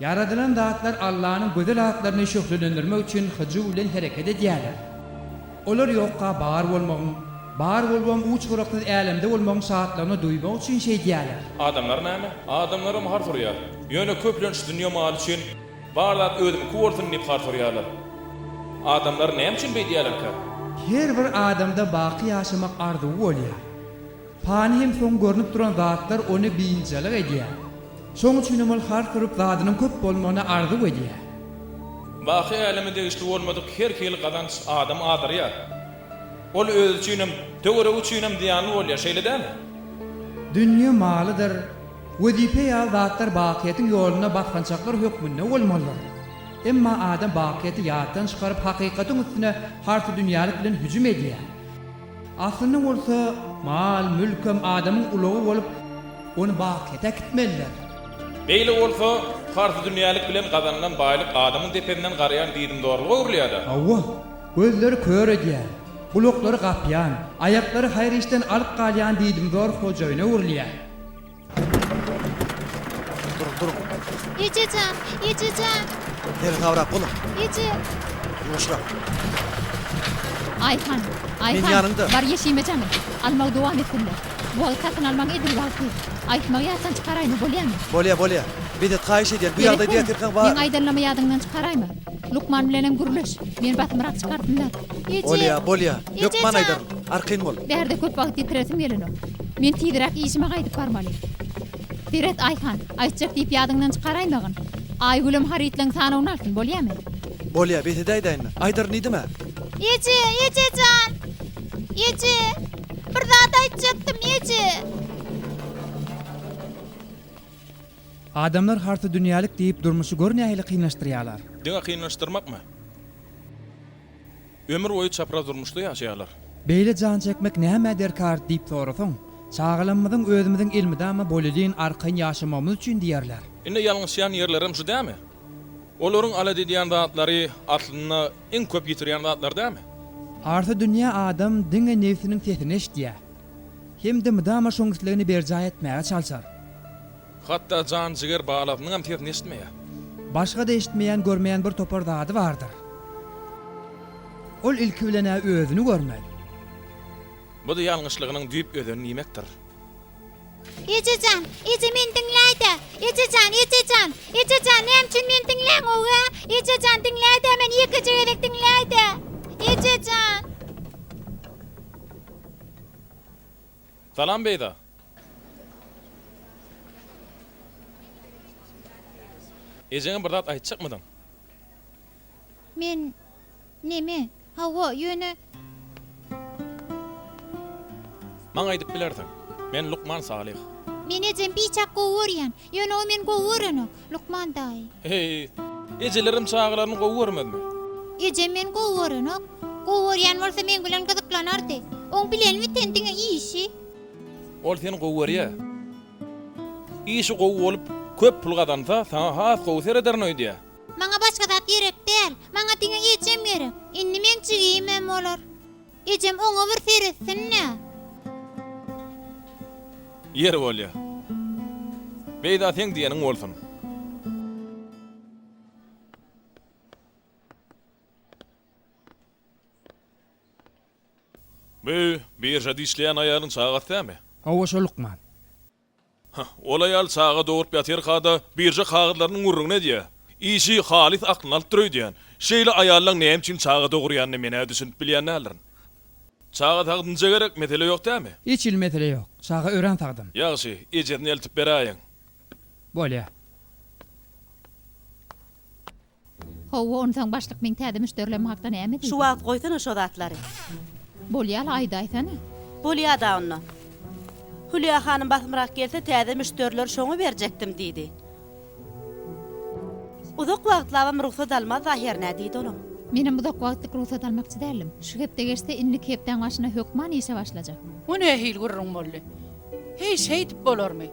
Ýaradylan zatlar Allanyň gözel atlaryny şöhlelendirmek üçin hyjuw bilen hereket edýärler. Olar ýokka bar bolmagyň, bar bolubam uç-gyraksyz älemde bolmagyň şatlygyny duýmak üçin şeýdýärler. Adamlar näme? Adamlaram har soraýar. Ýöne köplenç dünýe maly üçin bar zat özümiňki bolsun diýip har soraýarlar. Adamlar näme üçin beýdýärlerkä? Her bir adamda baky ýaşamak arzuwy bolýar. Pany hem soň görnüp duran zatlar ony biynjalyk edýär. Şoň üçin hem ol har turup zadynyň köp bolmagyny arzuw edýär. Baky äleme degişli bolmadyk her hili gazanç adamy azdyrýar. Ol özi üçin hem, töweregi üçin hem zyýanly bolýar, şeýle dälmi? Dünýe malydyr, wezipe ýaly zatlar bakyýetiň ýolunda basgançaklar hökmünde bolmalydyr. Emma adam bakyýeti ýatdan çykaryp hakykatyň üstüne harsydünýälik bilen hüjüm edýär. Aslynda bolsa mal-mülk hem adamyň ulagy bolup, ony bakyýete äkitmelidir. Beýle bolsa, parhy dünýälik bilen gazanylan baýlyk adamyň depesinden garaýan diýdimzorluga öwrülýär-de. Hawa, gözleri kör edýän, gulaklary gapýan, aýaklary haýyr işden alyp galýan diýdimzor hojaýyna öwrülýär. Duruň, duruň. Ejejan, ejejan. Gel gawrap boluň. Eje. Ýuwaşrak. Aýhan, Aýhan. Men ýanyňda. Bar ýeşime janym. Almagy dowam etsinler. Bu wagt satyn almagyň edil wagty. Aýtmagy ýatdan çykaraýma, bolýamy? Bolýa, bolýa. Bedet haýyş edýän, bu ýagdaýda ýatirkaň bar. Meň aýdanlamy ýadyňdan çykaraýma. Lukman bilenem gürleş. Men basymrak çykartyn-da. Eje! Bolýa, bolýa. Hökman aýdaryn. Arkaýyn bol. Bärde köp wagt ýitiresim gelenok. Men tizräk işime gaýdyp barmaly. Seret, Aýhan, aýtjak diýip ýadyňdan çykaraýmagyn. Aýgülem harytlaň sanawyny alsyn, bolýamy? Bolýa, bes edäýdäýin-le. Aýdaryn diýdim-ä. Eje, eje jan! Eje! Bir zat aýtjakdym, eje! Adamlar harta dünýälik diýip durmuşy gör nähili kynlaşdyrýalar. Diňe kynlaşdyrmakmy? Ömür boýy çapraz durmuşda ýaşaýarlar. Beýle jan çekmek nämä derkar diýip sorasaň, çagalamyzyň özümiziň elmydama bolelin arkaýyn ýaşamagymyz üçin diýerler. Indi ýalňyşýan ýerlerem şu dämi? Olaryň alet edýän zatlary aslynda iň köp ýitirýän zatlar dämi? Harta dünýä adam diňe nebsiniň sesini eşdýär. Hem-de mydama şoň islegini berjaý etmäge çalşar. Hatda jan-jiger balasynyňam sesini eşitmeýär. Başga-da eşitmeýän-görmeýän bir topar zady bardyr. Ol ilki bilen-ä özüni görmez. Bu-da ýalňyşlygynyň düýp özeni diýmekdir. Eje jan, eje meni diňläý-dä! Eje jan, eje jan! Eje jan, näme üçin meni diňläňow-a? Eje jan, diňläý-dä meni, ýekeje gezek diňläý-dä! Eje jan! Salam Beyza. Ejeňe bir zat aýtjakmydyň? Men Neme? Hawa, ýöne. Maňa aýdyp bilersiň. Men lukman Salyh. Men ejem biçak gowy görýän. Ýöne o meni gowy görenok, lukman daýy. Heý, ejelerem çagalaryny gowy görmezmi? Ejem meni gowy görenok. Gowy görýän bolsa meň bilen gyzyklanardy. Oň bilenmi sen diňe işi? Ol seni gowy görýä. Işi gowy bolup, köp pul gazansa, saňa has gowy serederin öýdýä. Maňa başga zat gerek däl. Maňa diňe ejem gerek. Indi meň jigimem bolar. Ejem oňa bir seretsin-dä. Ýeri bolýa. Beýza seň diýeniň bolsun. Bu biržada işleýän aýalyň çagasy dämi? Hawa, şo lukman. Hä, ol aýal çaga dogrup ýatyrka-da, birža kagyzlarynyň gürrüňini edýä. Işi halys aklyny alypdyr öýdýän. Şeýle aýallaň näme üçin çaga dogurýanyna men-ä düşünip bilýän däldirin. Çaga sagdynja gerek, mesele ýok dämi? Hiç hili mesele ýok. Çaga örän sagdyn. Ýagşy, ejesine eltip beräýiň. Bolýa. Howwa onsaň başlyk meň täze müşderilem hakda näme diýdi? Şu wagt goýsana şo zatlary. Bolýala aýdaýsana. Bolýada onda. Hülýa hanym basymrak gelse täze müşderiler şoňa berjekdim diýdi. Uzak wagtlabam rugsat almaz ahyryn-ä diýdi olam. Menem uzak wagtlyk rugsat almakçy däldim. Şu hepde geçse indiki hepdäň başyna hökman işe başlajak. Bu nähili gürrüň boldy? Heý şeýdip bolarmy?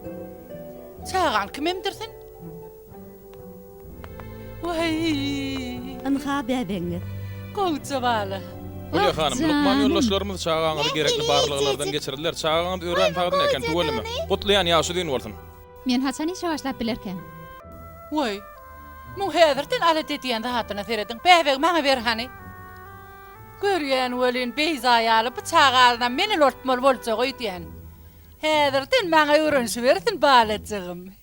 Çagan kimemdir sen? Weýýý. Ynha bäbegiňiz. Gowja bala. Hülýa hanym, lukman ýoldaşlarymyz çagaňyzy gerekli barlaglardan geçirdiler. Çagaňyz örän sagdyn eken, tüweleme. Gutlaýan, ýaşy uzyn bolsun. Men haçan işe başlap bilerkäm? Weý, muň häzirden alat edýän zadyna serediň. Bäbegi maňa ber hany. Görýän welin, Beýza ýaly bu çagalynam men ulaltmaly boljak öýdýän. Häzirden maňa öwrenişibersin balajygym.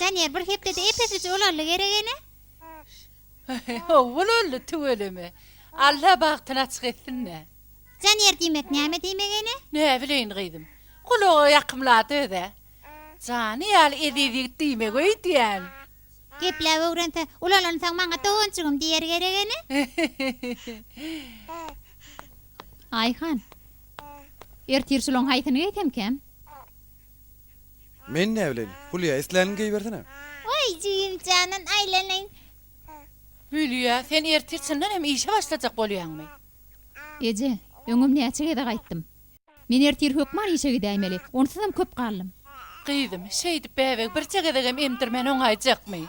Daniýer bir hepdede epesije ulaldy gerek ene. Ulaldy tüweleme. Alla bagtyny açyk etsin-dä. Daniýer diýmek näme diýmek ene? Näbileýin gyzym. Gulaga ýakymlady öz-ä. Jany ýaly eziz ýigit diýmegi öýdýän. Gepläp öwrense, ulalansaň maňa doganjygym diýer gerek ene. Aýhan. Ertir şulaň haýsyny geýsemkäm? Men näbileýin. Hülýä, islänini geýibersene. Oý, jigim janan aýlanaýyn. Hülýä, sen ertir çyndan hem işe başlajak bolýaňmy? Eje, öňem näçe gezek aýtdym. Men ertir hökman işe gidäýmeli. Onsuzam köp galdym. Gyzym, şeýdip bäbegi birje gezegem emdirmän oňaýjakmy?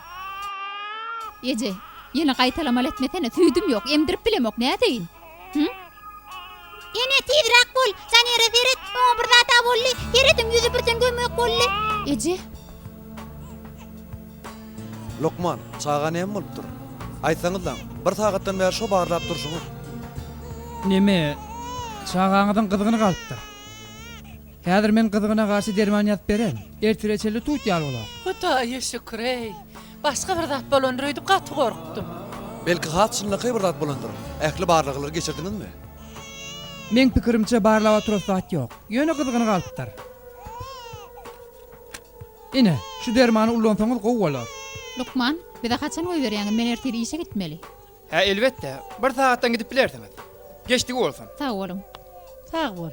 Eje, ýene gaýtalamaly etmesene. Süýdüm ýok, emdirip bilemok. Nädeýin? Hü? Ene, tizräk bol! Janere seret, oňa bir zat-a boldy. Serediň, ýüzi birden göm-gök boldy. Eje? Lukman, çaga näme bolupdyr? Aýtsaňyzlaň, bir sagatdan bäri şo barlap durşuňyz. Neme, çagaňyzyň gyzgyny galypdyr. Häzir men gyzgyna garşy derman ýazyp beren, ertire çenli tut ýaly bolar. Hudaýa şükür-eý! Başga bir zat bolandyr öýdüp gaty gorkdum. Belki has çynlakaý bir zat bolandyr. Ähli barlaglary geçirdiňizmi? Meň pikirimçe barlaba turasy zat ýok. Ýöne gyzgyny galypdyr. Ine, şu dermany ullansaňyz gowy bolar. Lukman, bize haçan goýberýäňiz, men ertir işe gitmeli. Hä, elbetde, bir sagatdan gidip bilersiňiz. Geçdigi bolsun. Sag boluň. Sag bol.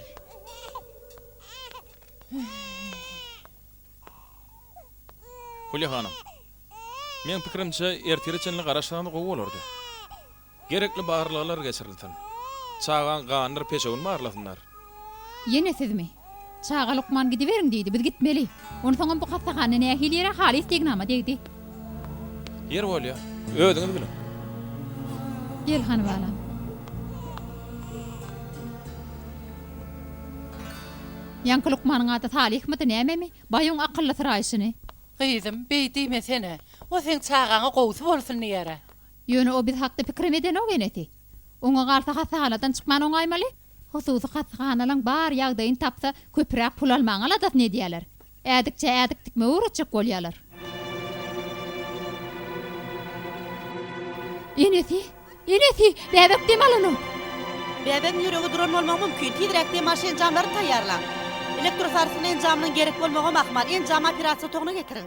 Hulýa hanym, meň pikirimçe, ertire çenli garaşsaňyz gowy bolardy. Gerekli barlaglar geçirilsin. Çagaň ganydyr peşewini barlasynlar. Ýene sizmi? Çaga lukman gidiberiň diýdi, biz gitmeli. Onsoňam bu hassahana nähili ýere halys degnama degdi. Ýer bolýa, özüňiz biliň. Gel hany balam. Ýaňky lukmanyň ady Salyhmydy nämemi? Baýuň akyllysyraýşyny. Gyzym, beý diýmesene. O seň çagaňa gowusy bolsun diýer-ä. Ýöne o biz hakda pikirem edenok enesi. Oňa galsa hassahanadan çykman oňaýmaly. Hususy hassahanalaň bar ýagdaýyny tapsa köpüräk pul almaň aladasyny edýäler. Ädikçä ädik tikmegi öwretjek bolýalar. Enesi! Enesi! Bäbek dem alanok! Bäbegiň ýüregi duran bolmagy mümkin. Tizräk dem alyş enjamlaryny taýýarlaň. Elektrosarsgyn enjamynyň gerek bolmagam ahmal. Enjamy operasiýa otagna getiriň.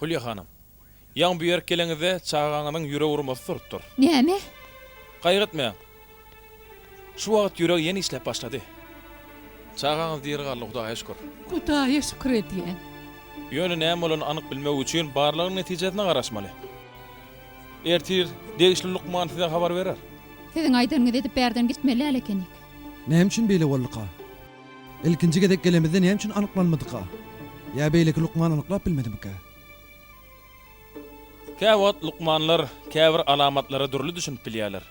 Hülýa hanym. Ýaňy bu ýerik geleňizde çagaňyzyň ýürek urmasy turupdyr. Näme? Gaýgy etmäň. Şu wagt ýüregi ýene işläp başlady. Çagaňyz diri galdy Hudaýa şükür. Hudaýa şükür edýän. Ýöne näme bolanyny anyk bilmek üçin barlagyň netijesine garaşmaly. Ertir degişli lukman size habar berer. Siziň aýdanyňyzy edip bärden gitmeli-ä ekenik. Näme üçin beýle bolduka? Ilkinji gezek gelemizde näme üçin anyklanmadyka? Ýa beýleki lukman anyklap bilmedimikä? Käwagt lukmanlar käbir alamatlara dürli düşünip bilýärler.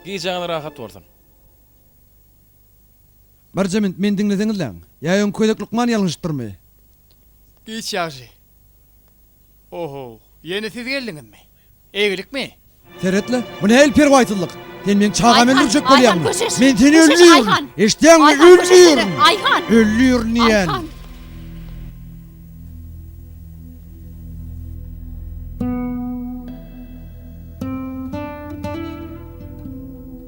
Gijäňiz rahat bolsun! Birje minut meni diňleseňizläň. Ýa öňki gezek lukman ýalňyşypdyrmy? Giç ýagşy. Ohow, ýene siz geldiňizmi? Eýgilikmi? Seret-le, bu nähili perwaýsyzlyk? Sen meniň çagamy öldürjek bolýaňmy? Men seni öldürin! Eşidýäňmi, öldürin! Öldürin diýýän!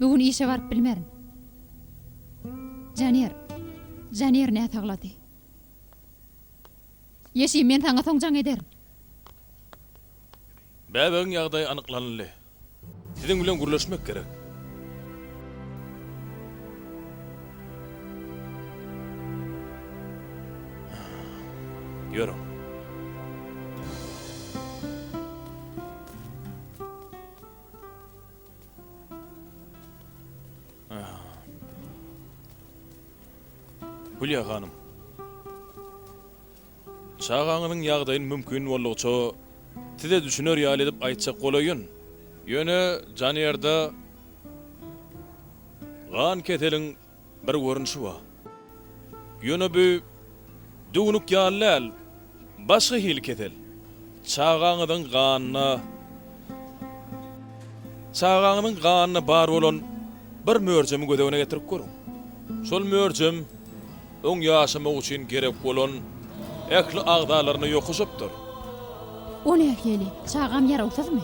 Bu gün işe baryp bilmerin. Janer. Janer näsaglady. Ýeşim, men saňa soň jaň ederin. Bäbegiň ýagdaýy anyklanyldy. Siziň bilen gürleşmek gerek. Ýörüň. Hülýa hanym. Çagaňyzyň ýagdaýyny mümkin boldugyça size düşüner ýaly edip aýtjak bolaýyn. Ýöne Janýerde gan keseliň Bir görnüşi bar. Ýöne bu düwnük ýaly däl, başga hili kesel. Çagaňyzyň ganyna Çagaňyzyň ganyna bar bolan bir möjemi göz öňüne getirip görüň. Şol möjem oň ýaşamagy üçin gerek bolan ähli agzalaryna ýokuş updyr. O nähili? Çagam ýarawsyzmy?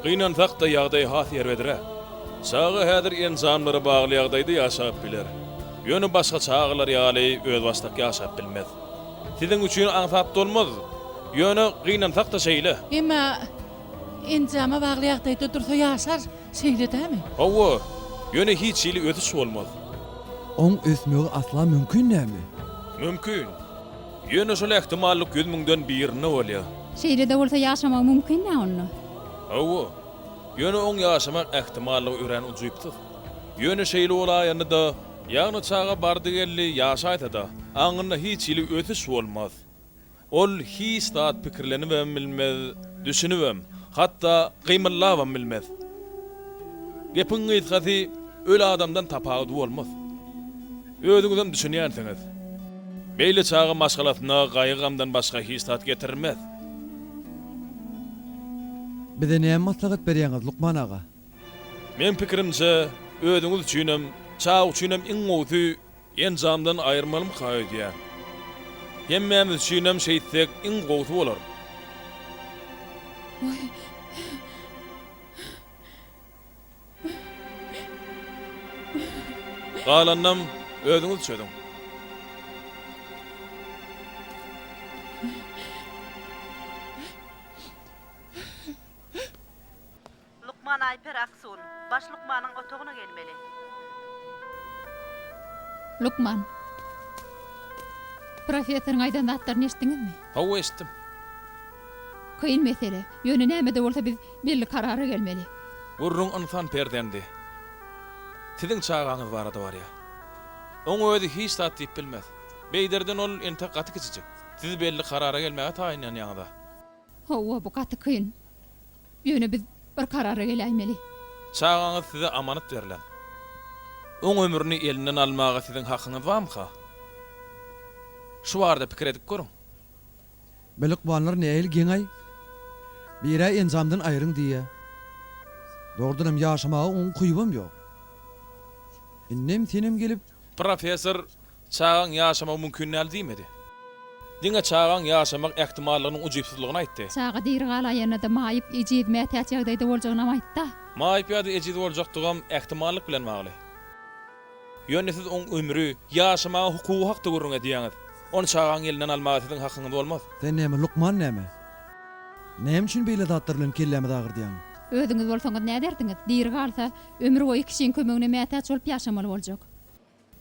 Gynansak-da, ýagdaý has erbedräk. Çaga häzir enjamlary bagly ýagdaýda ýaşap biler. Ýöne başga çagalar ýaly özbaşdak ýaşap bilmez. Siziň üçin aňsat bolmaz. Ýöne gynansak-da şeýle. Emma enjama bagly ýagdaýda dursa ýaşar, şeýle dämi? Hawa, ýöne hiç hili ösüş bolmaz. Oň ösmegi asla mümkin dälmi? Mümkin. Ýöne şol ähtimallyk ýüz müňden birinde bolýar. Şeýle-de bolsa ýaşamagy mümkin-ä onda? Hawa. Ýöne oň ýaşamak ähtimallygy örän ujypsyz. Ýöne şeýle bolaýanda-da, ýagny çaga bardy-geldi ýaşaýsa-da, aňynda hiç hili ösüş bolmaz. Ol hiç zat pikirlenibem bilmez, düşünibem, hatda gymyllabam bilmez. Gepiň gysgasy, öli adamdan tapawudy bolmaz. Özüňizem düşünýänsiňiz. Beýle çaga maşgalasyna gaýgy-gamdan başga hiç zat getirmez. Bize näme maslahat berýäňiz, lukman aga? Meň pikirimçe, özüňiz üçinem, çaga üçinem iň gowusy enjamdan aýyrmalymyka öýdýän. Hemmämiz üçinem şeýtsek iň gowusy bolar. Waý. Galanynam özüňiz çözüň. Lukman Aýper Aksun, baş lukmanyň otagyna gelmeli. Lukman. Professoryň aýdan zatlaryny eşitdiňizmi? Hawa, eşitdim. Kyn mesele. Ýöne näme-de bolsa biz. Belli karara gelmeli. Gürrüň ynsan perzendi. Siziň çagaňyz barada barýar. Oň özi hiç zat diýip bilmez. Beýderden ol entek gaty kiçijik. Siz belli karara gelmäge taýynlanýaňyz-a. Hawa, bu gaty kyn. Ýöne biz bir karara geläýmeli. Çagaňyz size amanat berlen. Oň ömrüni elinden almaga siziň hakyňyz barmyka? Şu barada pikir edip görüň. Bil ykballar nähili geň-aý. Bir-ä enjamdan aýryň diýýä. Dogrudanam ýaşamaga oň ukypam ýok. Indem senem gelip. Professor, çagaň ýaşamagy mümkin däl diýmedi. Diňe çagaň ýaşamak ähtimallygynyň ujypsyzlygyny aýtdy. Çaga diri galaýanda-da maýyp, ejiz, mätäç ýagdaýda boljagynam aýtdy-a. Maýyp ýa-da ejiz boljakdygam ähtimallyk bilen bagly. Ýöne siz oň ömri, ýaşamaga hukugy hakda gürrüň edýäňiz. Ony çagaň elinden almaga siziň hakyňyz bolmaz. Sen näme, lukman näme? Näme üçin beýle zatlar bilen kellämizi agyrdýaň? Özüňiz bolsaňyz nädersiňiz? Diri galsa, ömür boýy kişiň kömegine mätäç bolup ýaşamaly boljak.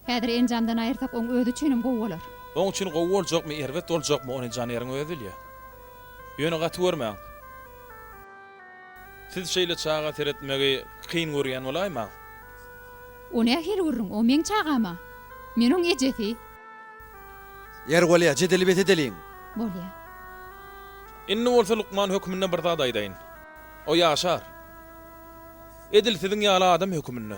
Häzir enjamdan aýyrsak, oň özi üçinem gowy bolar. Oň üçin gowy boljakmy, erbet boljakmy, ony janeriň özi bilýär. Ýöne gaty görmäň. Siz şeýle çaga seretmegi kyn görýän bolaýmaň. O nähili gürrüň, o meň çagam-a. Men oň ejesi. Ýeri bolýa, jedeli bes edeliň. Bolýa. Indi bolsa lukman hökmünde bir zat aýdaýyn. O ýaşar. Edil siziň ýaly adam hökmünde.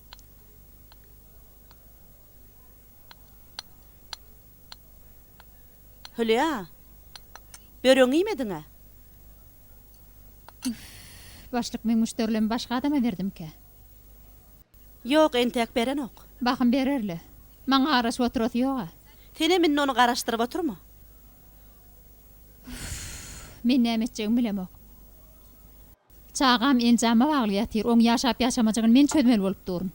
Hülýa, böregiňi iýmediň-ä? Üf, başlyk, meň müşderilerimi başga adama berdimkä? Ýok, entek berenok. Bahym berer-le. Maňa garaşyp oturasy ýog-a. Senem indi ony garaşdyryp oturma. Üf, men näme etjegimi bilemok. Çagam enjama bagly ýatyr, oň ýaşap ýaşamajygyny men çözmeli bolup duryn.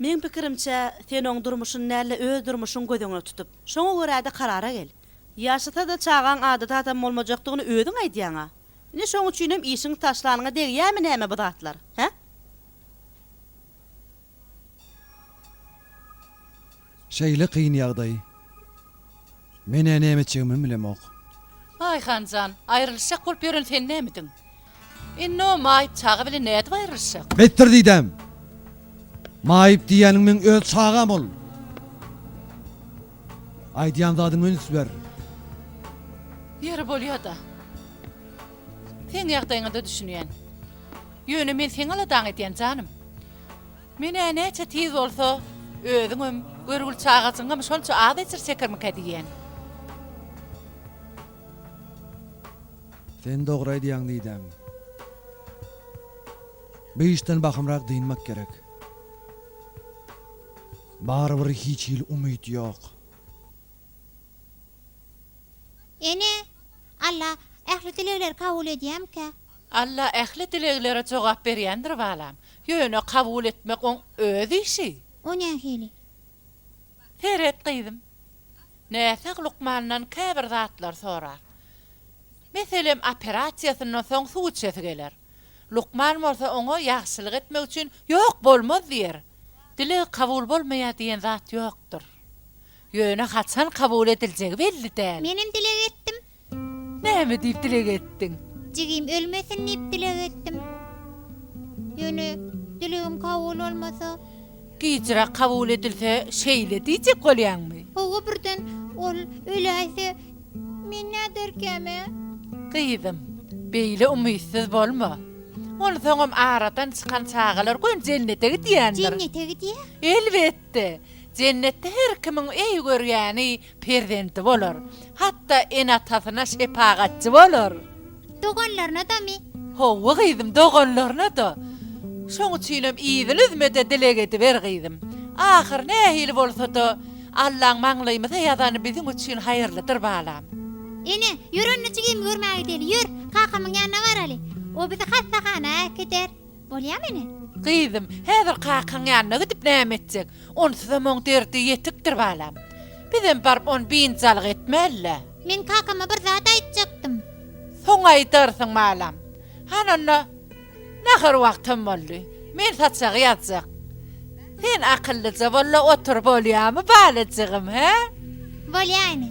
Meň pikirimçe, sen oň durmuşyny däl-de öz durmuşyňy göz öňüne tutup, şoňa görä-de karara gel. Ýaşasa-da çagaň adaty adam bolmajakdygyny özüň aýdýaň-a. Indi şoň üçinem işiňi taşlanyňa degýärmi näme bu zatlar, hä? Şeýle kyn ýagdaý. Men-ä näme etjegimem bilemok. Aýhan jan, aýrylyşjak bolup ýören sen nämidiň? Indi o maýyp çaga bilen nädip aýrylyşjak? Betdir diýdäm. Maýyp diýýäniň meň öz çagam ol. Aýdýan zadyňa üns ber. Ýeri bolýa-da. Seň ýagdaýyňa-da düşünýän. Ýöne men seň aladaňy edýän, janym. Men-ä näçe tiz bolsa, özüňem, görgül çagajygyňam şonça az ejir çekermikä diýýän. Sen dogry aýdýaň Didem. Bu işden bahymrak dynmak gerek. Barybir hiç hili umyt ýok. Ene, Alla ähli dilegleri kabul edýämikä? Alla ähli dileglere jogap berýändir balam. Ýöne kabul etmek oň öz işi. O nähili? Seret gyzym. Näsag lukmandan käbir zatlar sorar. Meselem operasiýasyndan soň suw içesi geler. Lukman bolsa oňa ýagşylyk etmek üçin ýok bolmaz diýer. Dileg kabul bolmaýar diýen zat ýokdur. Ýöne haçan kabul ediljegi belli däl. Menem dileg etdim. Näme diýip dileg etdiň? Jigim ölmesin diýip dileg etdim. Ýöne dilegim kabul bolmasa? Gijräk kabul edilse şeýle diýjek bolýaňmy? Hawa birden ol öläýse men näderkäm-ä? Gyzym, beýle umytsyz bolma. Onsoňam aradan çykan çagalar göni jennete gidýändir. Jennete gidýä? Elbetde. Jennetde her kimiň öý görýäni, Perzendi bolar. Hatda ene-atasyna şepagatçy bolar. Doganlaryna-damy? Hawa, gyzym, doganlaryna-da. Şoň üçinem yzyny üzme-de dileg ediber, gyzym. Ahyry nähili bolsa-da, Allaň maňlaýymyza ýazany biziň üçin haýyrlydyr, balam. Ene, ýör onda jigimi görmä gideli, ýör, kakamyň ýanyna baraly. O bizi hassahana äkider. Bolýamy ene? Gyzym, häzir kakaň ýanyna gidip näme etjek? Onsuzam oň derdi ýetikdir balam. Bizem baryp ony biynjalyk etmäli-le. Men kakama bir zat aýtjakdym. Soň aýdarsyň balam. Hany onda, nahar wagtam boldy. Men saçagy ýazjak. Sen akyllyja bol-la otur bolýamy balajygym, hä? Bolýa ene.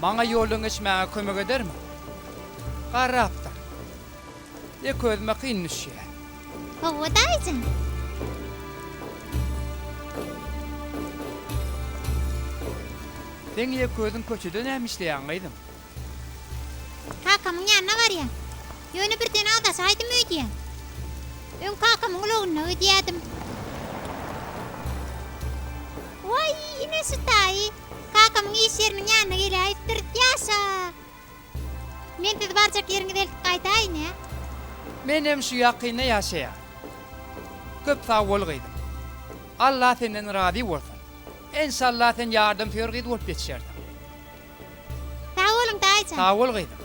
Maňa ýoldan geçmäge kömek edermi? Garrapdyr. Ýeke özüme kyn düşýär. Hawa, daýyjan. Sen ýeke özüň köçede näme işleýäň, gyzym? Kakamyň ýanyna barýan. Ýöne birden aldaşaýdym öýdýän. Öň kakamyň ulagynda öýdýädim. Waý, ine şu daýy. Kakamyň iş ýeriniň ýanyna geläýipdir. Ýaşa! Men sizi barjak ýeriňize eltip gaýdaýyn-ä. Menem şu ýakynda ýaşaýan. Köp sag bol gyzym. Allah senden razy bolsun. Enşalla sen ýardamsöýer gyz bolup ýetişersiň. Sag boluň daýyjan. Sag bol gyzym.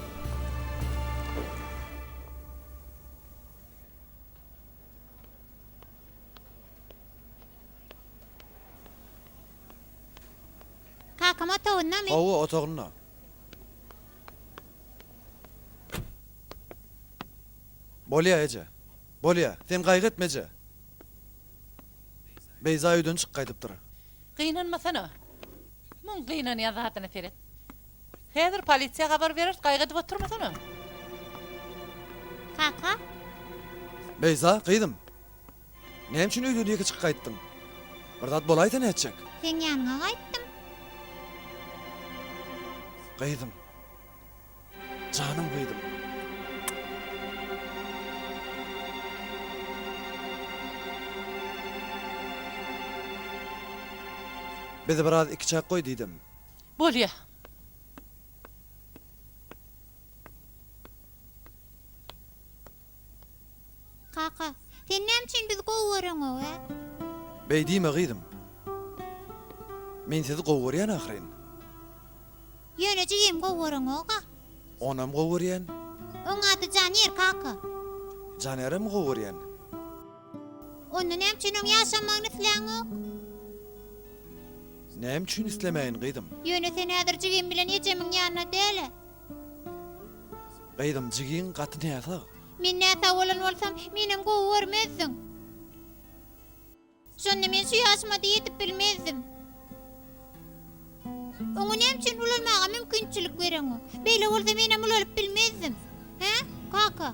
Kakam otagyndamy? Hawa, otagynda. Bolýa, eje. Bolýa. Sen gaýgy etme, eje. Beýza öýden çyk gaýdypdyr. Gynanmasana. Muň gynanýan zadyna seret. Häzir polisiýa habar bereris, gaýgy edip oturmasana. Kaka? Beýza, gyzym. Näme üçin öýden ýeke çykyp gaýtdyň? Bir zat bolaýsa nätjek? Seň ýanyňa gaýtdym. Gyzym. Janym gyzym. Bizi biraz ikiçäk goý diýdim. Bolýa. Kaka, sen näme üçin bizi gowy göreňow-ä? Beý diýme gyzym. Men sizi gowy görýän ahyryn. Ýöne jigimi gowy göreňow-a. Onam gowy görýän. Oň ady Janir, kaka. Janirem gowy görýän. Onda näme üçin oň ýaşamagyny isläňok? Näme üçin islemäýin gyzym? Ýöne sen häzir jigim bilen ejemiň ýanynda däl-ä. Gyzym jigiň gaty näsag. Men näsag bolan bolsam, menem gowy görmezdiň. Şonda men şu ýaşyma-da ýetip bilmezdim. Oňa näme üçin ulalmaga mümkinçilik bereňok? Beýle bolsa menem ulalyp bilmezdim. Hä, kaka?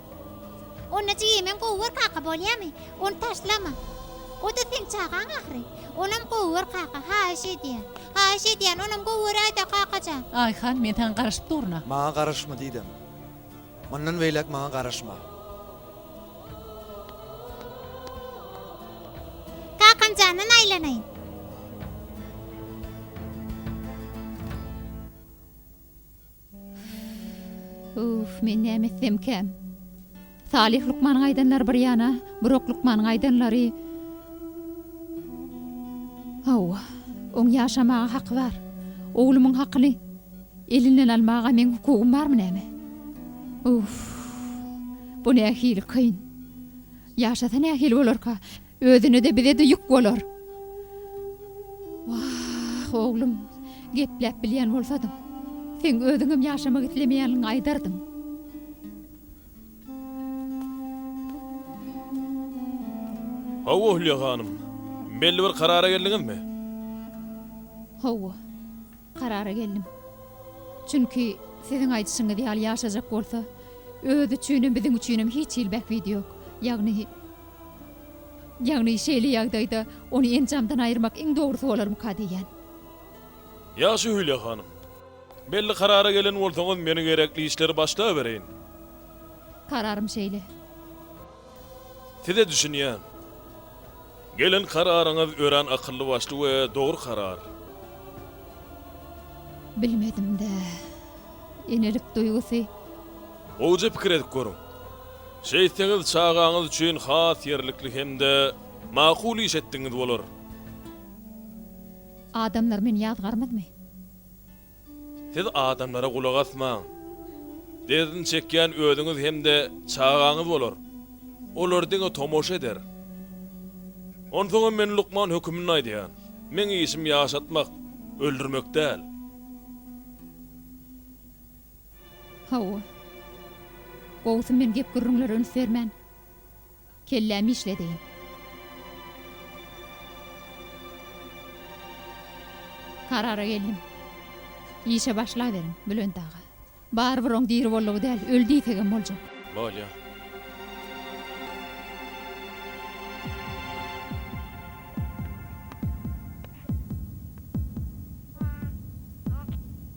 Onda jeýemen gowy gör kaka bolýamy? Ony taşlama. O-da seň çagaň ahyry. Onam gowy gör kaka, haýyş edýän. Haýyş edýän, onam gowy göräý-dä kakajan. Aýhan, men saňa garaşyp durun-a. Maňa garaşma diýdim. Mundan beýläk maňa garaşma. Kakamjandan aýlanaýyn. Uff, men näme etsemkä? Salyh lukmanyň aýdanlary bir ýana, Burak lukmanyň aýdanlary. Hawa, oň ýaşamaga haky bar. Oglumyň hakyny elinden almaga meň hukugym barmy näme? Uff, bu nähili kyn. Ýaşasa nähili bolarka? Özüne-de bize-de ýük bolar. Wah, oglum, gepläp bilýän bolsadyň, seň özüňem ýaşamak islemeýänligiňi aýdardyň. Hawa, Hülýa hanym. Belli bir karara geldiňizmi? Hawa, karara geldim. Çünki, siziň aýdyşyňyz ýaly ýaşajak bolsa, özi üçinem, biziň üçinem hiç hili bähbidi ýok. Ýagny, Ýagny şeýle ýagdaýda ony enjamdan aýyrmak iň dogrusy bolarmyka diýýän. Ýagşy Hülýa hanym. Belli karara gelen bolsaňyz meni gerekli işleri başlabereýin. Kararym şeýle. Size düşünýän. Gelen kararyňyz örän akylly başly we dogry karar. Bilmedim-dä. Enelik duýgusy. Gowja pikir edip görüň. Şeýtseňiz çagaňyz üçin has ýerlikli hem-de makul iş etdigiňiz bolar. Adamlar meni ýazgarmazmy? Siz adamlara gulak asmaň. Derdini çekýän özüňiz hem-de çagaňyz bolar. Olar diňe tomaşa eder. Onsoňam men lukman höküminde aýdýan. Meň işim ýaşatmak, öldürmek däl. Hawa. Gowusy men gep-gürrüňlere üns bermän, kellämi işledeýin. Karara geldim. Işe başlaberiň, Bülent aga. Barybir oň diri boldugy däl, öli diýsegem boljak. Bolýa.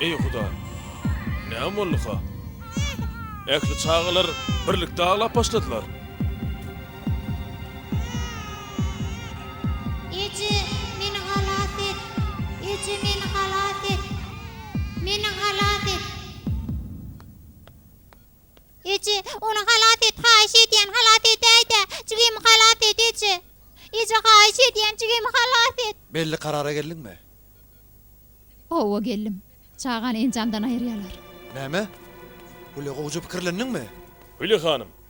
Eý Huda! Näme bolduka? Ähli çagalar birlikde aglap başladylar. Eje, meni halas et! Eje, meni halas et! Meni halas et! Eje, ony halas et, haýyş edýän, halas edäý-dä! Jigimi halas et, eje! Eje, haýyş edýän, jigimi halas et! Belli karara geldiňmi? Hawa, geldim. Çagany enjamdan aýyrýarlar. Näme? Uly, gowja pikirlendiňmi? Hüli hanym,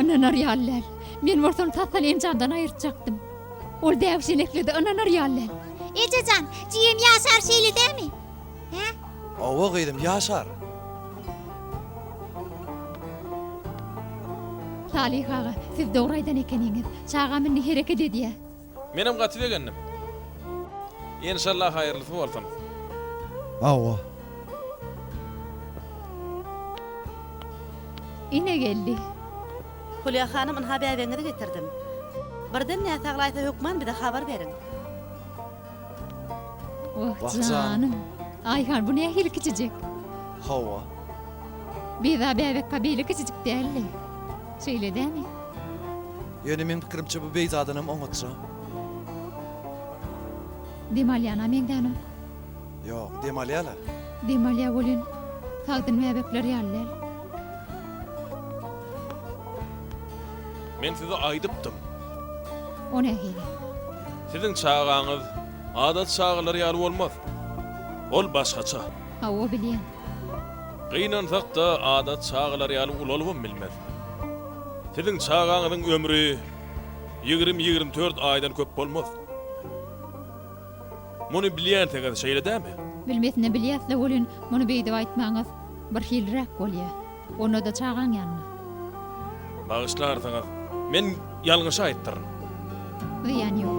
Ynanar ýaly däl. Men bolsa ony tas-tal enjamdan aýyrtjakdym. Ol bägüşenekledi, ynanar ýaly däl. Eje jan, jigim Ýaşar şeýle dämi? Hä? Hawa, gyzym, Ýaşar. Salyh aga, siz dogry aýdan ekeniňiz. Çagam indi hereket edýär. Menem gaty begendim. Enşallah haýyrlysy bolsun. Hawa. Ine geldi. Hulýa hanym ynha bäbegiňizi getirdim. Birden näsaglaýsa hökman bize habar beriň. Oh janym. Aýhan bu nähili kiçijik. Hawa. Biza bäbekka beýle kiçijik däldi. Şeýle dämi? Ýöne meň pikirimçe bu beýzadanam oňatja. Dem alýana meňzänok. Ýok, dem alýa-la. Dem alýa welin, sagdyn bäbekler ýaly däl. Men size aýdypdym. O nähili? Siziň çagaňyz adaty çagalar ýaly bolmaz. Ol başgaça. Hawa, bilýän. Gynansak-da, adat çagalar ýaly ulalybam bilmez. Siziň çagaňyzyň ömri ýigrimi-ýigrimi dört aýdan köp bolmaz. Muny bilýänsiňiz, şeýle dämi? Bilmesine bilýäs-le welin, muny beýdip aýtmagyňyz birhiliräk bolýar. Onda-da çagaň ýanyna. Bagyşlarsyňyz, men ýalňyş aýtdyryn. Zyýany ýok.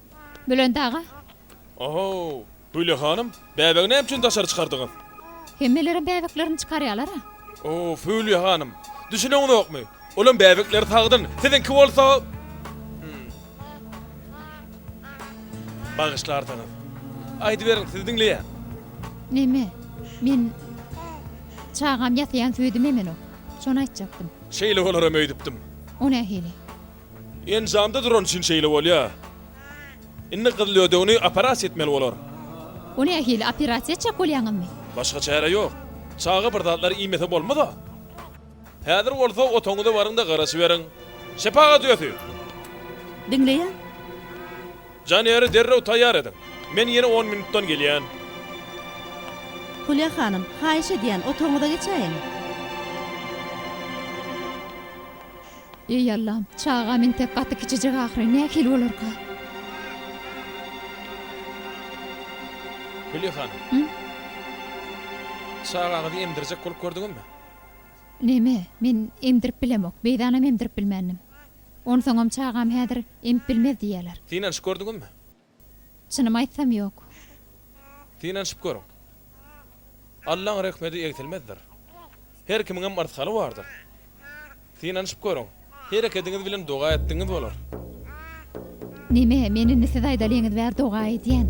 Bülent aga. Ohow! Hüwle hanym, bäbegi näme üçin daşary çykardyňyz? Hemmelerem bäbeklerini çykarýalar-a. Of, Hüwle hanym, düşüneňizokmy? Olam bäbekleri sagdyn, siziňki bolsa. Bagyşlarsyňyz. Aýdyberiň, sizi diňleýän. Näme? Men çagam ýasaýan süýdüm emenok. Şony aýtjakdym. Şeýle bolaram öýdüpdim. O nähili? Enjamda duran üçin şeýle bolýar. Indi gyzlödegini operasiýa etmeli bolar. Ony nähili, operasiýa etjek bolýaňyzmy? Başga çäre ýok. Çaga bir zatlar iýmese bolmaz-a. Häzir bolsa otagyňyza baryň-da garaşyberiň. Şepagat öýesi! Diňleýän. Janýary derrew taýýar ediň. Men ýene on minutdan gelýän. Hulýa hanym, haýyş edýän, otagyňyza geçäýiň. Eý Allam, çagam entek gaty kiçijik ahyry, nähili bolarka? Hülýa hanym. Hü? Çagaňyzy emdirjek bolup gördüňizmi? Näme, men emdirip bilemok, beýdanam emdirip bilmändim. Onsoňam çagam häzir emip bilmez diýýärler. Synanyşyp gördüňizmi? Çynymy aýtsam ýok. Synanyşyp görüň. Allaň rehmedi egsilmezdir. Her kimiňem yrsgaly bardyr. Synanyşyp görüň. Herekediňiz bilen doga etdigiňiz bolar. Neme, men indi siz aýdalyňyz bäri doga edýän.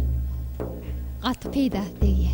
Gaty peýdasy degýä.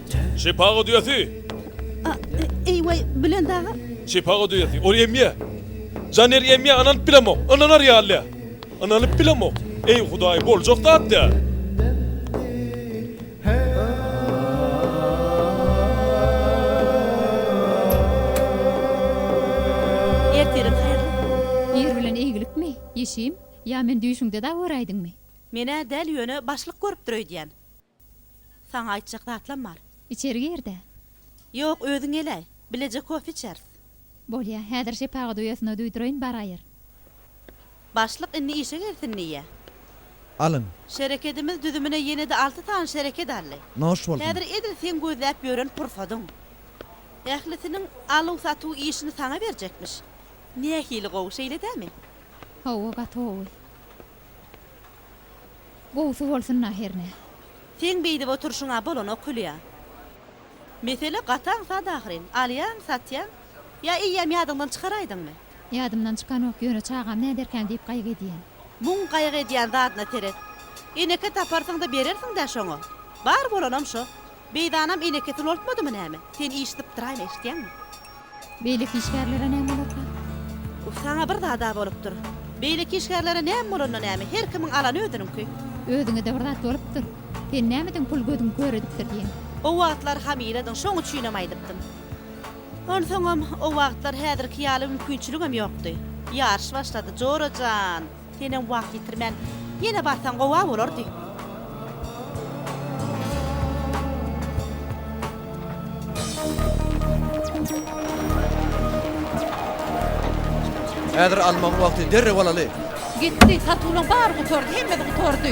Çepa gudýasy! A, e, eý-weý, Bülent aga! Çepa gudýasy, ol emýä! Janeri emýä, ynanyp bilemok, ynanar ýaly-dä! Ynanyp bilemok! Eý, Hudaý, boljak zat däl! Ertirin haýyrly! Ir bilen eýgilikmi, Ýeşim? Ýa men düýşüňde-dä göräýdiňmi? Men-ä däl, ýöne başlyk görüpdir öýdýän. Saňa aýtjak zatlam bar. Içeri gir-de. Ýok, özüň gel-äý. Bileje kofe içeris. Bolýa. Häzir şepagat uýasyna duýduraýyn, baraýyr. Başlyk indi işe gelsin diýýä. Alyň. Şereketimiz düzümine ýene-de alty sany şereket aldy. Noş bolsun. Häzir edil seň gözläp ýören pursadyň. Ählisiniň aluw-satuw işini saňa berjekmiş. Nähili gowy, şeýle dämi? Hawa, gaty gowy. Gowsy bolsun-a hernä. Seň beýdip oturşyňa bolanok Hülýa. Mesele gataň sada ahyryn. Alýaň, satýaň. Ýa eýýäm ýadyňdan çykaraýdyňmy? Ýadymdan çykanok, ýöne çagam näderkäm diýip gaýgy edýän. Muň gaýgy edýän zadyna seret. Eneke taparsyň-da berersiň-dä şoňa. Bar bolanam şo. Beýdanam eneke sulaltmadymy näme? Sen iş sypdyraýma, eşitýäňmi? Beýleki işgärlere näme bolarka? Uf, saňa bir zad-a bolupdyr. Beýleki işgärlere näme bolanda näme, her kimiň alany özüniňki. Özüňe-de bir zat bolupdyr. Sen nämeden pul gözüň kör edipdir diýeň. O wagtlar hamiledyň, şoň üçinem aýdypdym. Onsoňam, o wagtlar häzirki ýaly mümkinçiligem ýokdy. Ýaryş başlady, Jora jan! Senem wagt ýitirmän, ýene barsaň gowa bolardy. Häzir almagyň wagty, derrew alaly! Gitdi, satuwyň bary gutardy, hemmesi gutardy.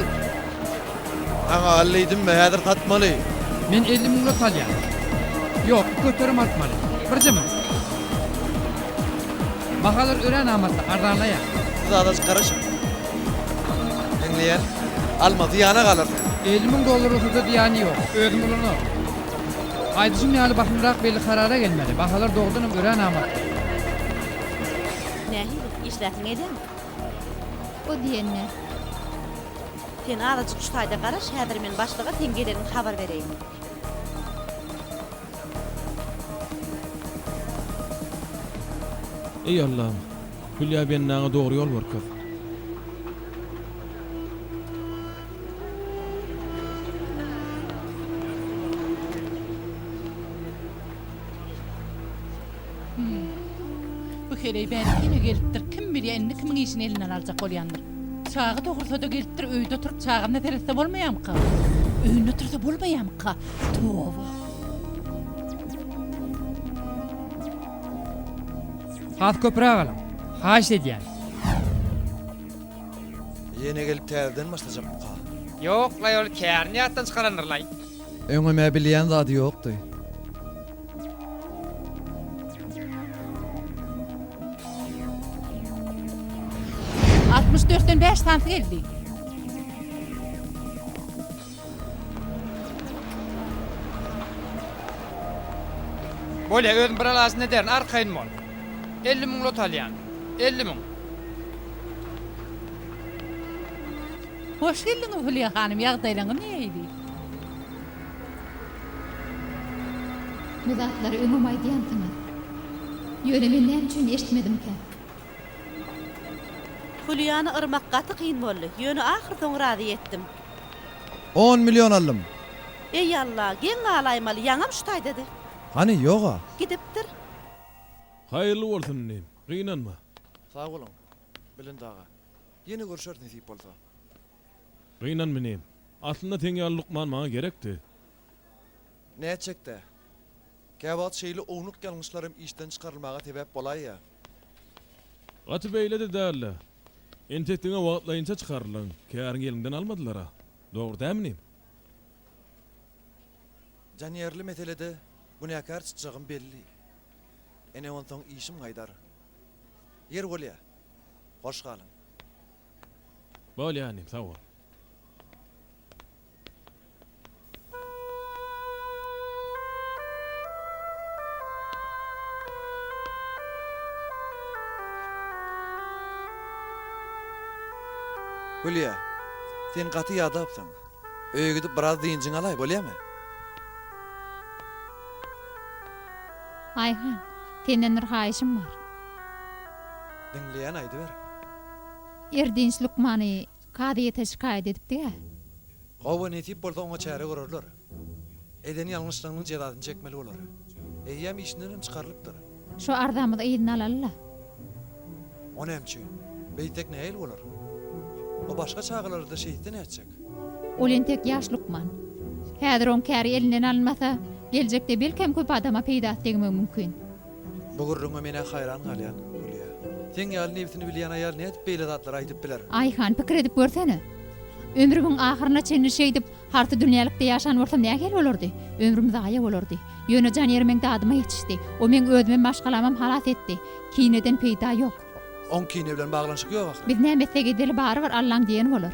Saňa al diýdimmi, häzir satmaly. Men elli müňle salýan. Ýok, bu göterim artmaly. Birje müň. Bahalar örän amatly, arzanlaýar. Bu zada çykaryşyň. Meňzeýär. Alma, zyýana galar sen. Elli müň dollar bolsa-da zyýany ýok. Özüm ulanaryn. Aýdyşym ýaly bahymrak belli karara gelmeli. Bahalar dogrudanam örän amatly. Nähili, işläsiňi edýäňmi? O diýen ne? Sen azajyk şu taýda garaş, häzir men başlyga seň geleniňi habar bereýin. Eý, Allam! Hülýa bendaňa dogry ýol görkez. Hüm. Bu heleý bärik ýene gelipdir. Kim bilýär, indi kimiň işini elinden aljak bolýandyr. Çaga dogrusa-da gelipdir, öýde oturyp çagana seretse bolmaýamyka? Öýünde otursa bolmaýamyka? Toba! Has köpräk alyň. Haýyşt edýän. Ýene gelip täzeden başlajakmyka? Ýok-laý ol kärini ýatdan çykarandyr-laý. Öňem-ä bilýän zady ýokdy. Altmyş dörtden bäş santy geldi. Bolýa, özüm bir alaçyny ederin, arkaýyn bol. Elli müň lot alýan. Elli müň. Hoş geldiňiz, Hülýa hanym, ýagdaýlaryňyz nähili? Bu zatlary öňem aýdýansyňyz. Ýöne men näme üçin eşitmedimkä? Hülýany yrmak gaty kyn boldy. Ýöne ahyrsoňy razy etdim. On million aldym. Eý Alla, geň galaýmaly, ýaňam şu taýdady. Hany, ýog-a. Gidipdir. Haýyrly bolsun inim. Gynanma. Sag boluň, Bilindaga. Ýene görşersiň nesip bolsa. Gynan meni. Aslynda seň ýaly lukman maňa gerekdi. Nätjekde. Käwagt şeýle ownuk ýalňyşlarym işden çykarylmaga sebäp bolaýýa. Gaty beýle-de däldi. Entek diňe wagtlaýynça çykaryldyň. Käriňi eliňden almadylar-a. Dogry dälmini? Janýerli meselede günäkär çytjagym belli. Ene onsoň işim gaýdar. Ýer bolýa. Hoş galyň. Bolýa inim, sag bol. Hülýa, sen gaty ýadapsyň. Öýe gidip biraz dynjyňy alaý, bolýamy? Aýhan, senden bir haýyşym bar. Diňleýän, aýdyber. Erdinç lukmany kazyýete şikaýat edipdi-ä. Hawa, nesip bolsa oňa çäre görerler. Eden ýalňyşlygynyň jezasyny çekmeli bolar. Eýýäm işindenem çykarylypdyr. Şu arzamyzy yzyna alaly-la. O näme üçin? Beýtsek nähili bolar? O başga çagalar-da şeýtse nätjek? Ol entek ýaş lukman. Häzir oň käri elinden alynmasa, geljekde belkem köp adama peýdasy degmegi mümkin. Bu gürrüňe men-ä haýran galýan, Hülýa. Seň ýaly nebsini bilýän aýal nädip beýle zatlary aýdyp biler? Aýhan, pikir edip görsene. Ömrümiň ahyryna çenli şeýdip, harsy dünýälikde ýaşan bolsam nähili bolardy? Ömrüm zaýa bolardy. Ýöne jan ýeri meň dadyma ýetişdi. O meň özümem, maşgalamam halas etdi. Kineden peýda ýok. Oň kine bilen baglanyşygy ýok ahyry. Biz näme etsek edeli, barybir Allaň diýeni bolar.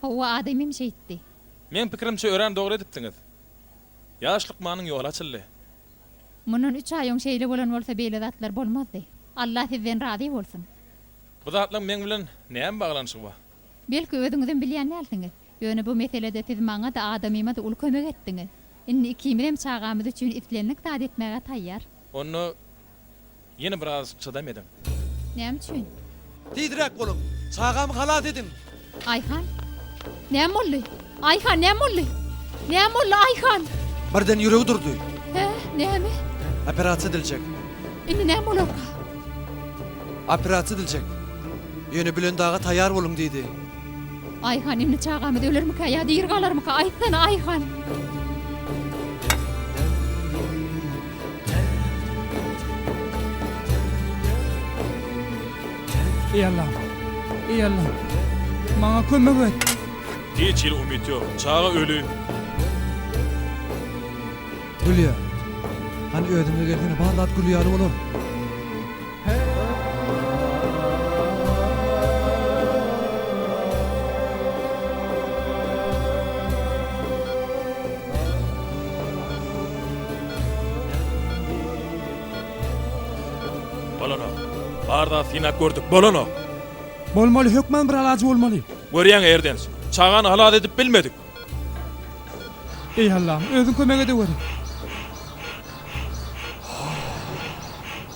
Howwa adam hem şeýtdi. Meň pikirimçe örän dogry edipsiňiz. Ýaş lukmanyň ýoly açyldy. Mundan üç aý öň şeýle bolan bolsa beýle zatlar bolmazdy. Allah sizden razy bolsun. Bu zatlaň meň bilen näme baglanyşygy bar? Belki özüňizem bilýän dälsiňiz. Ýöne bu meselede siz maňa-da, adamyma-da uly kömek etdiňiz. Indi ikimizem çagamyz üçin islendik zady etmäge taýýar. Onda Ýene biraz çydam ediň. Näme üçin? Tizräk boluň! Çagamy halas ediň! Aýhan! Näme boldy? Aýhan, näme boldy? Näme boldy, Aýhan? Birden ýüregi durdy. Hä? Näme? Operasiýa ediljek. Indi näme bolarka? Operasiýa ediljek. Ýöne Bülendaga taýýar boluň diýdi. Aýhan indi çagamyz ölermikä ýa diri galarmyka aýtsana Aýhan. Eý Allam. Eý Allam. Maňa kömek et. Hiç hili umyt ýok. Çaga öli. Gülýär. Hany özüňe gelsene bar zat gülýär bolar. Bolanok. Bar zady synap gördük. Bolanok. Bolmaly, hökman bir alajy bolmaly. Görýäň, Erdens. Çagany halas edip bilmedik. Eý Allam, özüň kömek edeweri.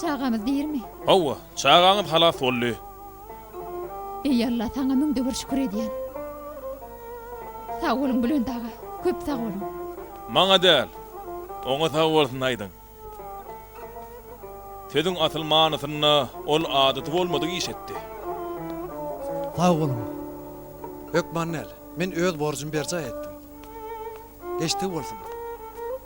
Çagamyz dirmi? Hawa, çagaňyz halas boldy. Eý Alla, saňa müňde bir şükür edýän. Sag boluň Bülent aga, köp sag boluň. Maňa däl, oňa sag bolsun aýdyň. Sözüň asyl manysynda ol adaty bolmadyk iş etdi. Sag boluň. Hökman däl, men öz borjum berjaý etdim. Geçdigi bolsun.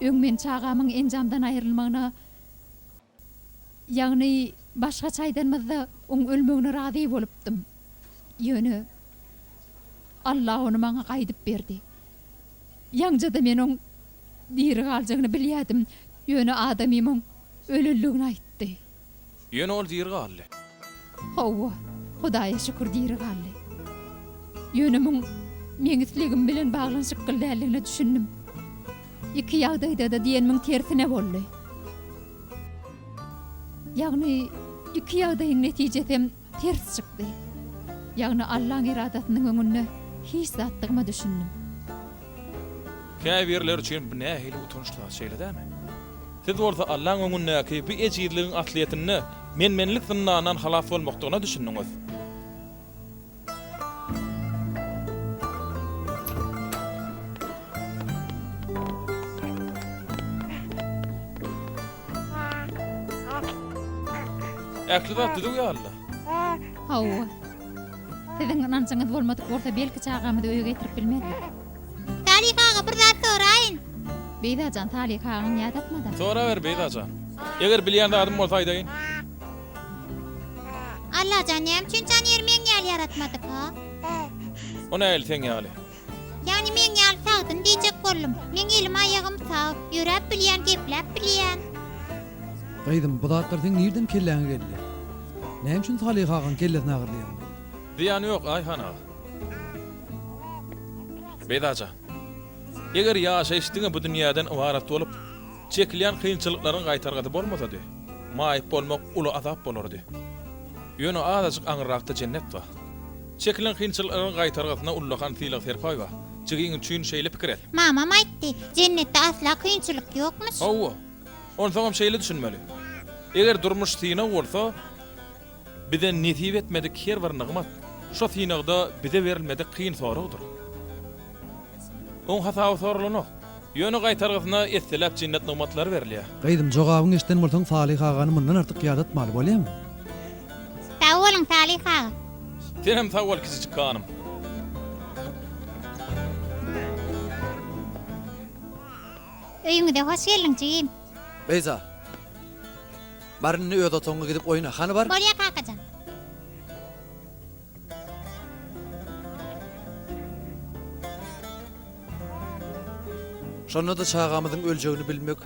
Öň men çagamyň enjamdan aýrylmagyna, ýagny başgaça aýdanymyzda, oň ölmegine razy bolupdym. Ýöne Allah ony maňa gaýdyp berdi. Ýaňja-da men oň diri galjagyny bilýädim, ýöne adamym oň ölenligini aýtdy. Ýöne ol diri galdy. Hawa, Hudaýa şükür diri galdy. Ýöne muň meň islegim bilen baglanyşykgly däldigine düşündim. Iki ýagdaýda-da diýenimiň tersine boldy. Ýagny iki ýagdaýyň netijesem ters çykdy. Ýagny Allaň eradasynyň öňünde hiç zatdygyma düşündim. Käbirler üçin bu nähili utançly, şeýle dämi? Siz bolsa Allaň öňündäki bu ejizligiň aslyýetinde men-menlik zyndanyndan halas bolmakdygyna düşündiňiz. Ähli zat düzüw ýalyda. Hawa. Siziň ynanjyňyz bolmadyk bolsa belki çagamyzy öýe getirip bilmezdik. Salyh aga bir zat soraýyn. Beyzajan Salyh agaň ýa dakmada. Soraber Beyzajan. Eger bilýän zadym bolsa aýdaýyn. Allajan näme üçin jan ýermeň ýaly ýaratmadyka. O nähili seň ýaly. Ýani meň ýaly sagdyn diýjek boldum. Meň elim aýagym sag, ýöräp bilýän, gepläp bilýän. Gyzym bu zatlar seň nirden kelläňe geldi? Näme üçin Salyh agaň kellesini agyrdaýaň? Zyýany ýok Aýhan aga. Beýza jan. Eger ýaşaýyş diňe bu dünýäden ybarat bolup, çekilýän kynçylyklaryň gaýtargasy bolmasady, maýyp bolmak uly azap bolardy. Ýöne azajyk aňyrrakda jennet bar. Çekilen kynçyl ygyň gaýtargysyna ullakan sylag Serpaýewa, jigiň üçin şeýle pikir et. Mamam aýtdy, jennetde asla kynçylyk ýokmyş. Hawa, onsoňam şeýle düşünmeli. Eger durmuş synag bolsa, bize nesip etmedik her bir nygmat, şo synagda bize berilmedik kyn soragdyr. Oň hasaby soralanok. Ýöne gaýtargysyna esseläp jennat nygmatlary berilýär. Gyzym jogabyňy eşiden bolsaň Salyh agany mundan artyk ýadatmaly bolýamy? Sag boluň Salyh aga. Senem sag bol kiçijik hanym. Öýüňize hoş geldiň jigim. Beyza. Bar indi öz otagyňa gidip oýna. Hany bar. Bolýa kakajan. Şonda-da çagamyzyň öljegini bilmek,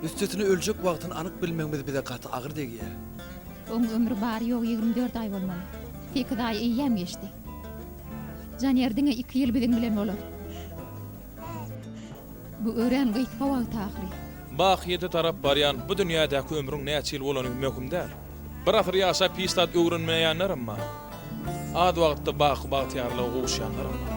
üstesine öljek wagtyny anyk bilmegimiz bize gaty agyr degýär. Oň ömri bary-ýogy ýigrimi dört aý bolmaly. Sekiz aý eýýäm geçdi. Janer diňe iki ýyl biziň bilen bolar. Bu örän gysga wagt ahyry. Bakyýete tarap barýan bu dünýädäki ömrüň näçe ýyl bolany möhüm däl. Bir asyr ýaşap hiç zat öwrenmeýänlerem bar. Az wagtda baky bagtyýarlyga gowuşýanlarem bar.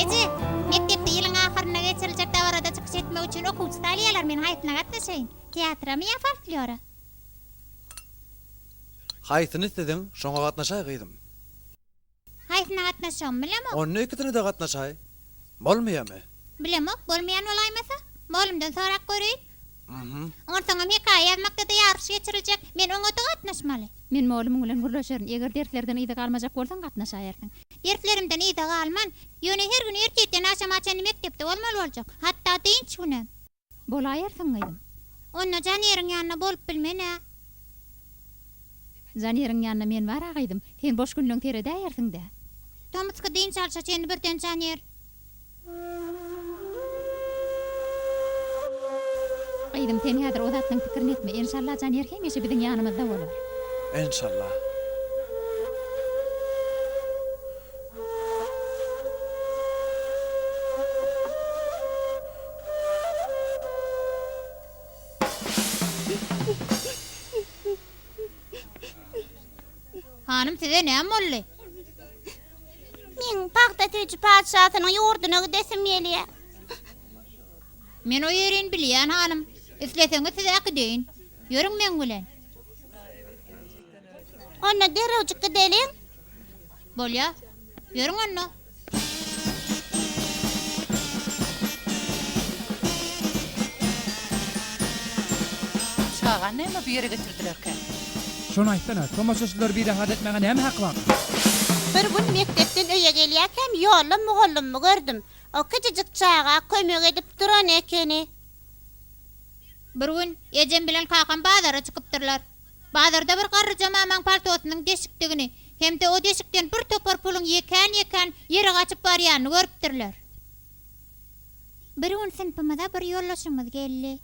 Eje, mekdepde ýylyň ahyrynda geçiriljek dabarada çykyş etmek üçin okuwçy salýarlar, men haýsyna gatnaşaýyn? Teatramy ýa folklora? Haýsyny isleseň, şoňa gatnaşaý gyzym. Haýsyna gatnaşjagym bilemok. Onda ikisine-de gatnaşaý. Bolmaýamy? Bilemok, bolmaýan bolaýmasa. Molumdan sorap göreýin. Hm. Onsoňam hekaýa ýazmakda-da ýaryş geçiriljek. Men oňa-da gatnaşmaly. Men molumyň bilen gürleşerin. Eger derslerden yza galmajak bolsaň, gatnaşaýersiň. Derslerimden yza galman. Ýöne her gün ertirden agşama çenli mekdepde bolmaly boljak. Hatda dynç günem. Bolaýersiň, gyzym. Onda Janeriň ýanynda bolup bilmen-ä? Janeriň ýanynda men bar-a, gyzym. Sen boş günleň seredäýersiň-dä. Tomusky dynç alşa çenli birden Janer. Gyzym, sen häzir o zatlaryň pikirini etme. Enşalla, Janer hemişe biziň ýanymyzda bolar. Enşalla. Hanym, size näme boldy? Meň pagta süýji patyşasynyň ýurduna gidesim gelýär. Men o ýerini bilýän, hanym. Isleseňiz, sizi äkideýin. Ýörüň meň bilen. Onda derrewjik gideliň. Bolýar. Ýörüň onda. Çagany näme bu ýere getirdilerkä? Şony aýtsana, tomaşaçylary birahat etmäge näme hak bar? Bir gün mekdepden öýe gelýärkäm ýolda mugallymmy gördüm. O kiçijik çaga kömek edip duran ekeni. Bir gün ejem bilen kakam bazara çykypdyrlar. Bazarda bir garryja mamaň paltosynyň deşikdigini hem-de o deşikden bir topar puluň ýekän-ýekän ýere gaçyp barýanyny görüpdirler. Bir gün synpymyza bir ýoldaşymyz geldi.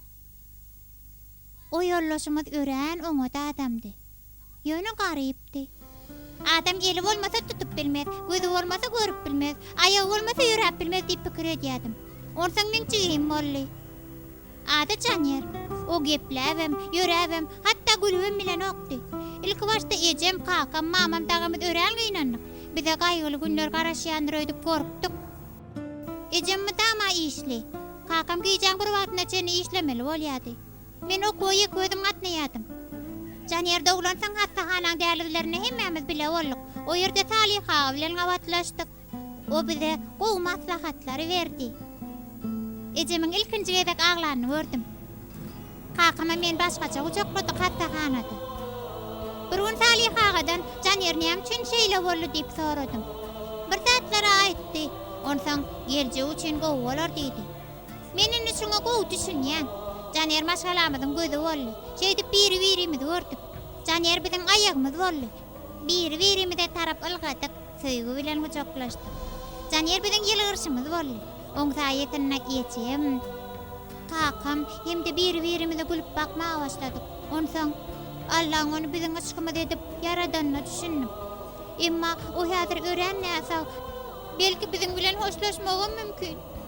O ýoldaşymyz örän oňat adamdy. Ýöne garypdy. Adam eli bolmasa tutup bilmez, gözi bolmasa görüp bilmez, aýagy bolmasa ýöräp bilmez diýip pikir edýärdim. Onsoň meň jigim boldy. Ady Janýer. O gepläbem, ýöräbem, hatda gülübem bilenokdy. Ilkibaşda ejem, kakam, mamam, dagamyz örän gynandyk. Bize gaýgyly günler garaşýandyr öýdüp gorkduk. Ejem mydama işli. Kakam gijäň bir wagtyna çenli işlemeli bolýardy. Men ok boýy iki özüm gatnaýardym. Janýer doglansoň, hassahanaň dälizlerinde hemmämiz bile bolduk. O ýerde Salyh aga bilen gabatlaşdyk. O bize gowy maslahatlary berdi. Ejemiň ilkinji gezek aglanyny gördüm. Kakamy men başgaça gujakladyk hassahanada. Bir gün Salyh agadan Janýer näme üçin şeýle boldy diýip soradym. Bir zatlar aýtdy, onsoň geljegi üçin gowy bolar diýdi. Men indi şuňa gowy düşünýän. Janer maşgalamyzyň gözi boldy. Şeýdip biri-birimizi gördük. Janer biziň aýagymyz boldy. Biri-birimize tarap ylgadyk, söýgi bilen gujaklaşdyk. Janer biziň ýylgyrşymyz boldy. Oň saýasynda ejem, kakam hem-de biri-birimize gülüp bakmaga başladyk. Onsoň, Allaň ony biziň yşkymyz edip ýaradanyna düşündim. Emma o häzir örän näsag. Belki biziň bilen hoşlaşmagam mümkin.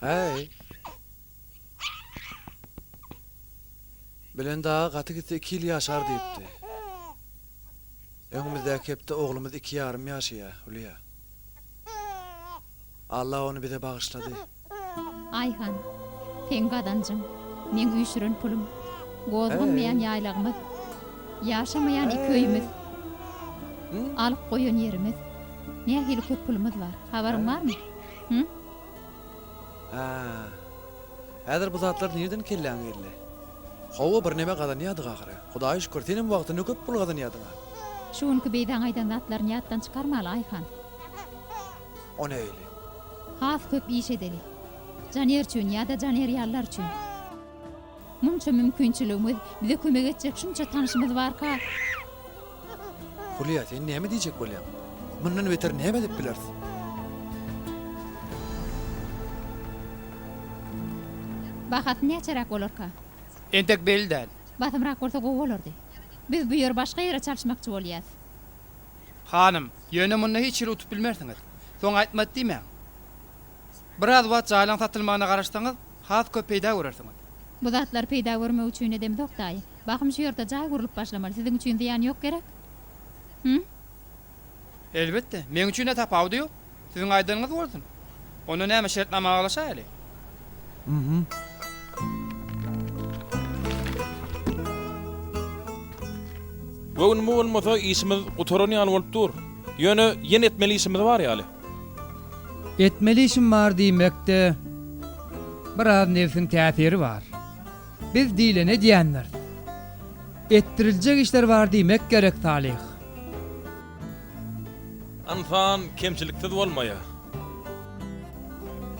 Häý. Bilen daga gaty gitse iki ýyl ýaşar diýipdi. Öňümizdäki hepde oglumyz iki ýarym ýaşaýar, Hülýa. Alla ony bize bagyşlady. Aýhan, seň gazanjyň, meň üýşüren pulum. Gozganmaýan ýaýlagymyz. Ýaşamaýan iki öýümiz. Alyp goýan ýerimiz. Nähili köp pulumyz bar, habaryň barmy? Hü? Hä. Häzir bu zatlar nirden kelläňe geldi? Hawa, birneme gazanýardyk ahyry. Hudaýa şükür, senem wagtynda köp pul gazanýardyň-a. Şu günki beýdäň aýdan zatlaryny ýatdan çykarmaly, Aýhan. on öýli. Has köp iş edeli. Janer üçin ýa-da Janer ýalylar üçin. Munça mümkinçiligimiz, bize kömek etjek şunça tanşymyz barka. Hulýa, sen näme diýjek bolýaň? Mundan beter näme edip bileris? Bahasy näçeräk bolarka? Entek belli däl. Basymrak bolsa gowy bolardy. Biz bu ýeri başga ýere çalyşmakçy bolýas. Hanym, ýöne munda hiç hili utup bilmersiňiz. Soň aýtmady diýmäň. Biraz wagt jaýlaň satylmagyna garaşsaňyz, has köp peýda görersiňiz. Bu zatlar peýda görmek üçin edemzok daýy. Bahym şu ýerde jaý gurlup başlamaly. Siziň üçin zyýan ýok gerek? Hü? Elbetde. Meň üçin-ä tapawudy ýok. Siziň aýdanyňyz bolsun. Onda näme şertnama baglaşaýaly? Göwün bu bolmasa işimiz gutaran ýaly bolup dur. Ýöne ýene etmeli işimiz bar ýaly. Etmeli işim bar diýmekde biraz nebsiň täsiri bar. Biz diýleni edýändiris. Etdiriljek işler bar diýmek gerek Salyh. Ynsan kemçiliksiz bolmaýar.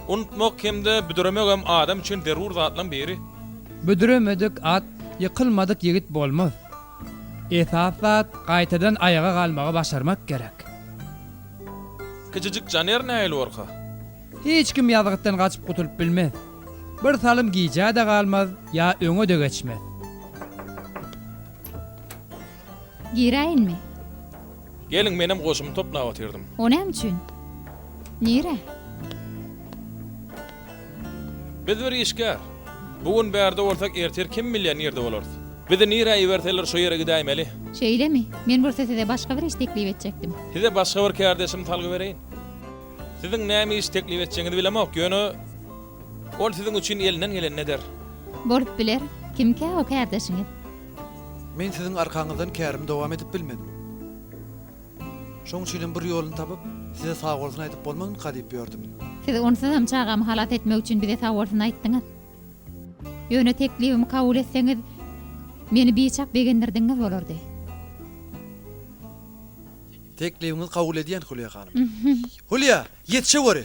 Unutmak hem-de büdüremegem adam üçin zerur zatlaryň biri. Büdüremedik at, ýykylmadyk ýigit bolmaz. Esas zat, gaýtadan aýaga galmagy başarmak gerek. Kiçijik janer nähili gorkar? Hiç kim ýazgytdan gaçyp gutulyp bilmez. Bir salym gijä-de galmaz, ýa öňe-de geçmez. Giräýinmi? Geliň, menem goşumy toplap otyrdym. O näme üçin? Nire? Biz bir işgär. Bu gün bärde bolsak, ertir kim bilýär nirde bolarys. Bizi nirä iberseler şo ýere gidäýmeli. Şeýlemi? Men bolsa size başga bir iş teklip etjekdim. Size başga bir kärdeşimi salgy bereýin. Siziň näme iş teklip etjegiňizi bilemok, ýöne ol siziň üçin elinden gelenini eder. Bolup biler. Kimkä o kärdeşiňiz? Men siziň arkaňyzdan kärimi dowam edip bilmedim. Şoň üçinem bir ýoluny tapyp, size sagbolsun aýdyp bolmazmyka diýip ýördüm. Siz onsuzam çagamy halas etmek üçin bize sagbolsun aýtdyňyz. Ýöne teklibimi kabul etseňiz, meni biçak begendirdigiňiz bolardy. Teklibiňizi kabul edýän, Hulýa hanym. Hulýa, ýetişeweri!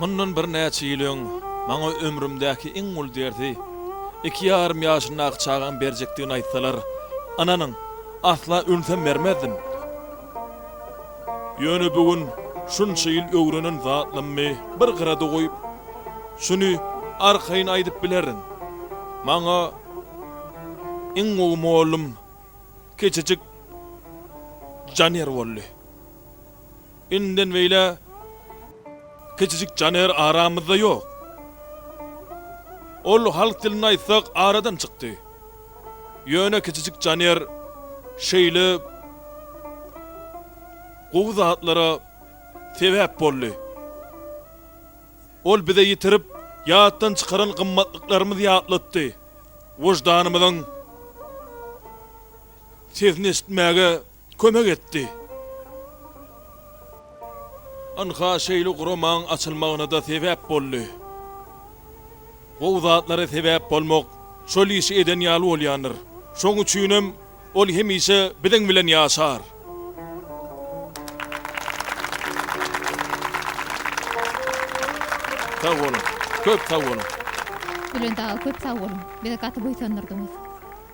Mundan birnäçe ýyl öň maňa ömrümdäki iň uly dersi iki ýarym ýaşyndaky çagam berjekdigini aýtsalar, ynanyň, asla ölsem bermezdim. Ýöne bu gün şunça ýyl öwrenen zatlammy bir gyrada goýup, şuny arkaýyn aýdyp bilerin, maňa iň gowy mollum kiçijik Janer boldy. Indiden beýle kiçijik Caner aramyzda ýok. Ol halk dilinde aýtsak aradan çykdy. Ýöne kiçijik Caner şeýle gowy zatlara sebäp boldy. Ol bize ýitirip ýatdan çykaran gymmatlyklarymyzy ýatlatdy. Wyždanymyzyň sesini eşitmäge kömek etdi. Ynha şeýle guramaň açylmagyna-da sebäp boldy. Gowy zatlara sebäp bolmak şol işi eden ýaly bolýandyr. Şoň üçinem ol hemişe biziň bilen ýaşar. Sag boluň. Köp sag boluň. Bülent aga köp sag boluň. Bizi gaty buýsandyrdyňyz.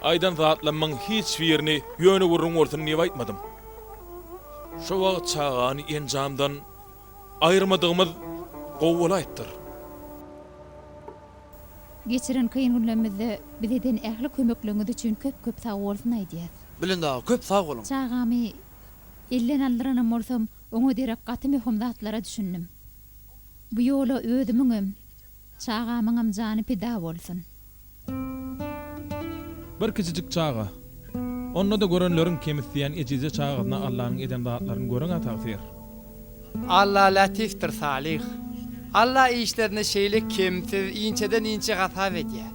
Aýdan zatlamyň hiç birini ýöne gürrüň bolsun diýip aýtmadym. Şo wagt çagany enjamdan aýyrmadygymyz gowy bolaýypdyr. Geçiren kyn günlemizde bize eden ähli kömekleriňiz üçin köp köp sag bolsun aýdýas. Bülent aga köp sag boluň. Çagamy elden aldyranam bolsam oňa derek gaty möhüm zatlara düşündim. Bu ýola özümiňem. Çagamyňam jany pida bolsun. Bir kiçijik çaga. Onda-da görenleriň kemisdiýen ejizje çagasyna Allanyň eden zatlaryny göreňä tagsyr. Alla Lätifdir Salyh. Alla işlerini şeýle kemsiz, inçeden inçe hasap edýä.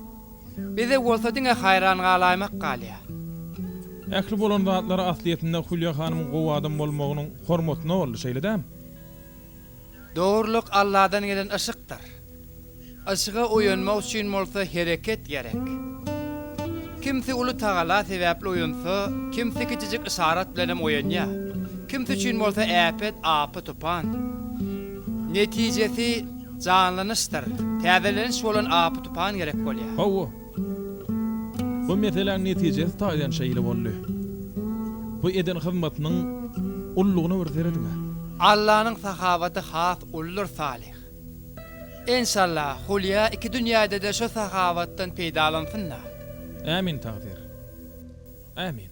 Bize bolsa diňe haýran galaýmak galýa. Ähli bolan zatlary aslyýetinde Hulýa hanymyň gowy adam bolmagynyň hormatyna boldy, şeýle dämi? Dogrulyk Alladan gelen yşykdyr. Yşyga oýanmak üçin bolsa hereket gerek. Kimsi uly Tagala sebäpli oýansa, kimsi kiçijik yşarat bilen hem oýanýar. Kimsi üçin bolsa äpet, apy-tupan. Netijesi, janlanyşdyr, täzeleniş bolan apy-tupan gerek bolýar. Hawa, Bu meseläň netijesi taýdan şeýle boldy. Bu eden hyzmatynyň ullugyna bir serediň-ä. Allanyň sahawaty has uludyr Salyh. Enşalla, Hulýa iki dünýäde-de şu sahawatdan peýdalansyn-da. Ämin tagsyr. Ämin.